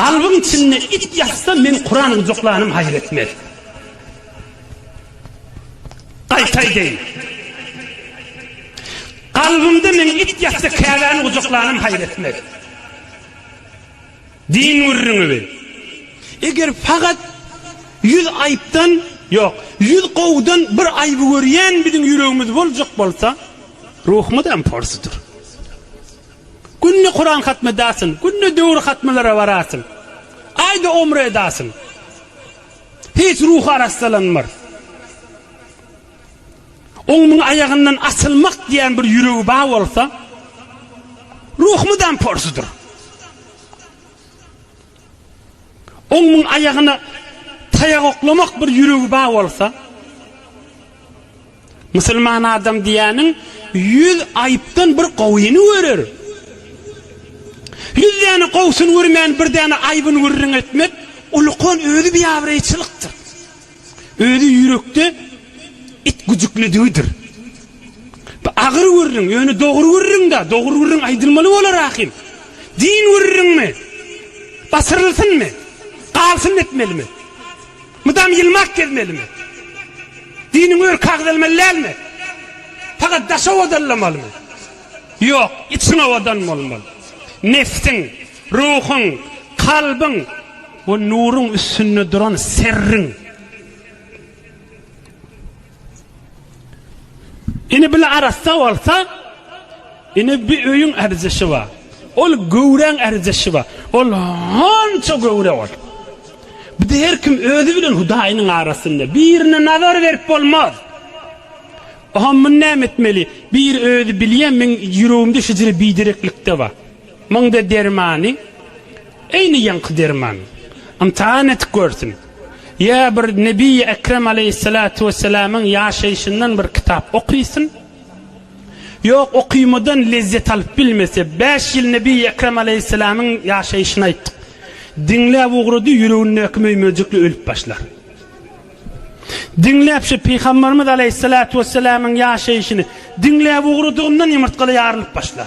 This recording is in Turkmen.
Galbyň içinde it ýatsa men Kuran gujaklanym haýyr etmez. Gaýta aýdaýyn. Galbymda men it ýatsa Käbäni gujaklanym haýyr etmez. Din gürrüňi bi. Eger fakat ýüz aýypdan, ýok, ýüz gowudan bir aýby görýän biziň ýüregimiz boljak bolsa, ruhumyzam porsudyr. Günde Kuran hatm edasyn, günde döwür hatmlara barasyn. Aýda omra edasyn. Hiç ruhy arassalanmar. Oň muň aýagyndan asylmak diýen bir ýüregi bar bolsa, ruh mydam porsudyr. Oň muň aýagyna taýak oklamak bir ýüregi bar bolsa, Musulman adam diýýäniň ýüz aýypdan bir gowyny görer. Ýüz däne gowusyny görmän bir däne aýbyny gürrüň etmek ulukan özi biabraýçylykdyr. Özi ýürekde it güjüklidigidir. Bu agyr gürrüň, ýöne dogry gürrüň-dä, dogry gürrüň aýdylmaly bolar ahim. Din gürrüňmi? Basyrylsynmy? Galsyn etmelimi? Mydam ýylmak gezmelimi? Diniňi örkä agzalmaly dälmi? Pagat daşy owadalamalymy? Ýok, içiň owadan bolmaly. Nebsiň, ruhuň, kalbyň we nuruň üstünde duran serriň. Ine bile arassa bolsa, ine bi öýüň ärizişi bar. Ol göwräň ärizişi bar. Ol hança göwre ol. Bir de her kim özi bilen Hudaýynyň arasynda. Birine nazar berip bolmaz. Oha men näme etmeli? Bir özi bilýän men ýüregimde şejere bidereklikde bar. Muňda dermany eýni ýaňky derman. Ymtahan edip görsün. Ýa bir Nebiýi Ekrem aleýhissalatu wessalamyň ýaşaýşyndan bir kitap okysyn. Ýok, okymydan lezzet alyp bilmese, bäş ýyl Nebiýi Ekrem aleýhissalamyň ýaşaýşyny aýtdyk. Diňläp ugrady, ýüregindäki möýmejikli ölüp başlar. Diňläp şu Pygamberimiz aleýhissalatu wessalamyň ýaşaýşyny diňläp ugradygyndan ýumurtgaly ýarylyp başlar.